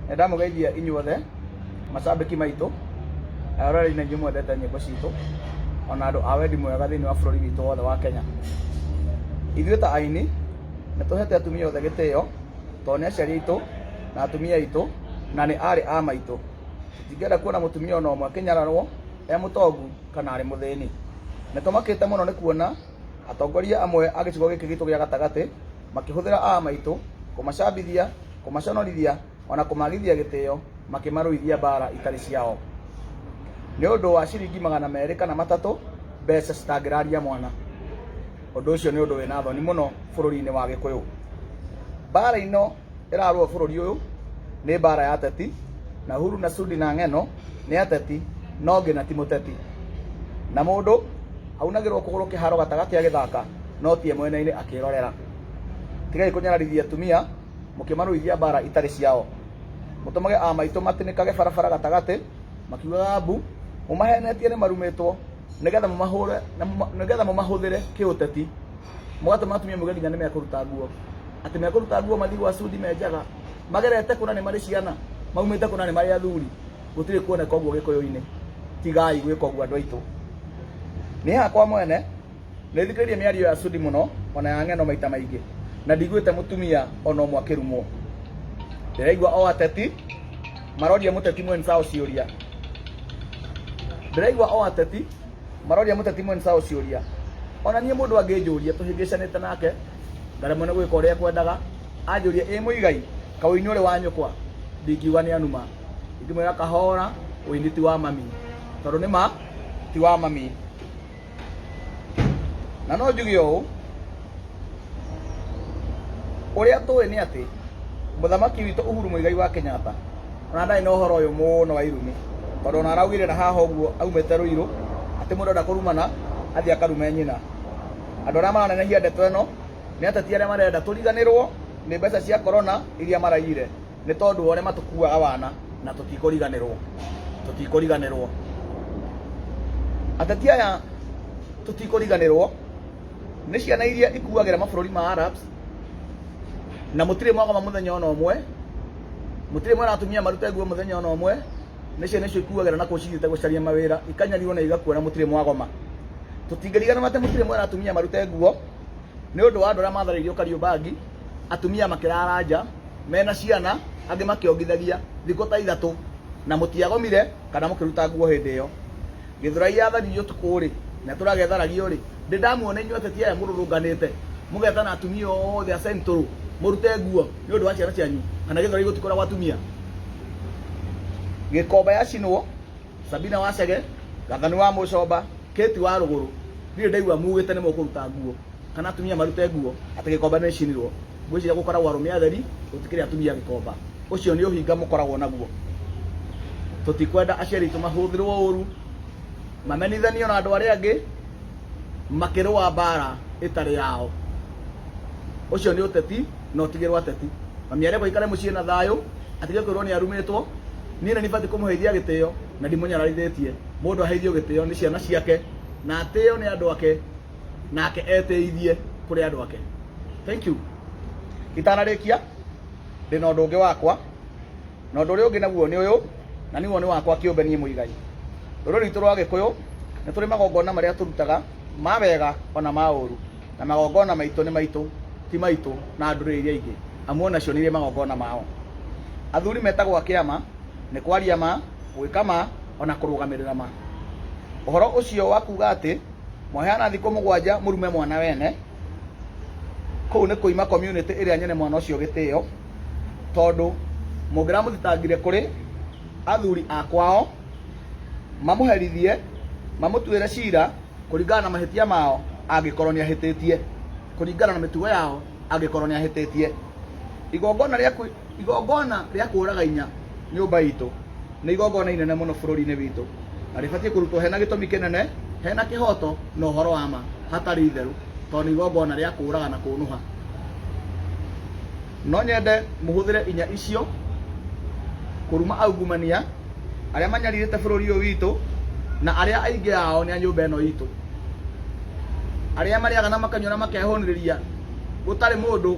Nĩndamũgeithia inyuothe macambĩki maitũ, aroreri na inyuĩ mwendete nyĩmbo citũ, ona andũ a wendi mwega thĩinĩ wa bũrũri witũ wothe wa Kenya. Ithuĩ ta aini, nĩtũhete atumia othe gĩtĩo, tondũ nĩ aciari aitũ, na atumia aitũ, na nĩ aarĩ a maitũ. Tũtingĩenda kuona mũtumia ona ũmwe akĩnyararwo, e mũtongu, kana arĩ mũthĩni. Nĩtũmakĩte mũno nĩ kuona, atongoria amwe a gĩcigo gĩkĩ gitũ gĩa gatagatĩ, makĩhũthĩra aa maitũ kũmacambithia, kũmaconorithia, o na kũmaagithia gĩtĩo, makĩmarũithia mbaara itarĩ ciao. Nĩ ũndũ wa ciringi magana merĩ kana matatũ, mbeca citangĩraria mwana. Ũndũ ũcio nĩ ũndũ wĩ na thoni mũno bũrũri-inĩ wa Gĩkũyũ. Mbaara ino... ĩrarũa bũrũri ũyũ nĩ mbara ya teti na huru na sudi na ng'eno nĩ ateti no ngĩ na ti mũteti na mũndũ aunagĩrwo kũgũrũ kĩharo gatagatĩ agĩthaka no tie mwena-inĩ akĩrorera tigai kũnyararithia tumia mũkĩmarũithia mbara itarĩ ciao mũtũmage amaitũ matĩnĩkage barabara gatagatĩ makiugaga mbu mũmahenetie nĩ marumĩtwo nĩgetha mũmahũre na mũma- nĩgetha mũmahũthĩre kĩũteti mũgatũma atumia muge nginya nĩmekũruta nguo atĩ mekũruta nguo mathiĩ gwa cudi menjaga magerete kũna nĩ marĩ ciana maumĩte kũna nĩ marĩ athuri gũtirĩ kuoneka ũguo gĩkũyũ-inĩ tigai gwĩka ũguo andũ aitũ niĩ hakwa mwene nĩ thikĩrĩrie mĩario ya cudi mũno ona ya ng'eno maita maingĩ na ndigwĩte mũtumia ona ũmwe akĩrumwo ndĩraigua o ateti maroria mũteti mwenzao ciũria ndĩraigua o ateti maroria mũteti mwene sawa ciũria ona niĩ mũndũ angĩnjũria tũhĩngĩcanĩte nake ngaremwo nĩ gwĩka ũrĩa ekwendaga anjũria ĩ mũigai kawĩini ũrĩ wa nyũkwa ndingiuga nĩ anuma ingĩmwĩra kahora ũini ti wa mami tondũ nĩ ma ti wa mami na no njuge ũũ ũrĩa tũĩ nĩ atĩ mũthamaki witũ Uhuru Muigai wa Kenyatta ona ndarĩ na ũhoro ũyũ mũno wa irumi tondũ ona araugire na haha ũguo aumĩte Ruiru atĩ mũndũ enda kũrumana athiĩ akarume nyina andũ arĩa maranenehia ndeto ĩno nĩ ateti arĩa marenda tũriganĩrwo nĩ mbeca cia korona iria maraiyire nĩ tondũ wa ũrĩa matũkuaga wana na tũtikũriganĩrwo tũtikũriganĩrwo ateti aya tũtikũriganĩrwo nĩ ciana iria ikuagĩra mabũrũri ma Arabs na mũtirĩ mwagoma mũthenya ona ũmwe mũtirĩ mwena atumia marute nguo mũthenya ona ũmwe nĩ ciana icio ikuagĩra na kũcigĩte gũcaria mawĩra ikanyarirwo na igakuona mũtirĩ mwagoma tũtingĩriganĩrwo atĩ mũtirĩ mwena atumia marute nguo nĩ ũndũ wa andũ arĩa matharĩirio Kariũbangi atumia makĩrara nja mena ciana angĩ makĩongithagia thikũ ta ithatũ na mũtiagomire kana mũkĩruta nguo hĩndĩ ĩyo gĩthurai yatharirio ũtukũ rĩ na itũra getharario rĩ ndĩ ndamuona inyuĩ ateti aya mũrũrũnganĩte mũgetana atumia othe a central mũrute nguo nĩ ũndũ wa ciana cianyu kana gĩthurai gũtikoragwo atumia gĩkomba yacinwo sabina wacege gathani wa mũcomba kĩti wa rũgũrũ ndirĩ ndaigua mugĩte nĩ mũkũruta nguo kana atumia marute nguo atĩ gĩkomba nĩ rĩcinirwo. Ngwĩciria gũkoragwo arũme atheri, gũtikĩrĩ atumia gĩkomba. Ũcio nĩ ũhinga mũkoragwo naguo. Tũtikwenda aciari aitũ mahũthĩrwo ũũru, mamenithanio na andũ arĩa angĩ, makĩrũa mbaara ĩtarĩ yao. Ũcio nĩ ũteti na ũtigĩrwo ateti. Mami arekwo aikare mũciĩ na thayũ, atige kwĩrwo nĩ arumĩtwo. Niĩ nĩ batiĩ kũmũheithia gĩtĩo na ndimũnyararithĩtie. Mũndũ aheithio gĩtĩo nĩ ciana ciake, na atĩo nĩ andũ ake. nake eteithie kuri andu ake thank you itanarikia ndi na undu ungi wakwa na undu uria ungi naguo ni uyu na niguo ni wakwa kiumbe nie muigai ruru ritu rwa gikuyu ni turi magongona maria turutaga ma wega ona ma uru na magongona maitu ni maitu ti maitu na nduriri iria ingi amu onacio ni iri magongona mao athuri metagwo akiama ni kwaria ma gwika ma ona kurugamirira ma uhoro ucio wa kuga ati Mwaheana thikũ mũgwanja mũrume mwana wene. Kũu nĩ kũima community ĩrĩa nyene mwana ũcio gĩtĩo, tondũ mũngĩramũthitangire kũrĩ athuri a kwao mamũherithie, mamũtuĩre cira kũringana na mahĩtia mao angĩkorwo nĩ ahĩtĩtie, kũringana na mĩtugo yao angĩkorwo nĩ ahĩtĩtie. Igongona rĩaku igongona rĩa kũũraga inya nyũmba itũ nĩ igongona inene mũno bũrũri-inĩ witũ na rĩbatiĩ kũrutwo hena gĩtũmi kĩnene hena kĩhoto na ũhoro wa ma hatarĩ itherũ tondũ nĩ igongona rĩa kũũraga na kũnũha no nyende mũhũthĩre inya icio kũruma aungumania arĩa manyarirĩte bũrũri ũyũ witũ na arĩa aingĩ ao nĩ a nyũmba ĩno itũ arĩa marĩaga na makanyua na makehũnĩrĩria gũtarĩ mũndũ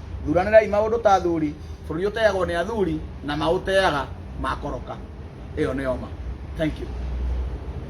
thuranĩrai maũndũ ta athuri bũrũri ũteagwo nĩ athuri na maũteaga makoroka ĩyo nĩyo ma thank you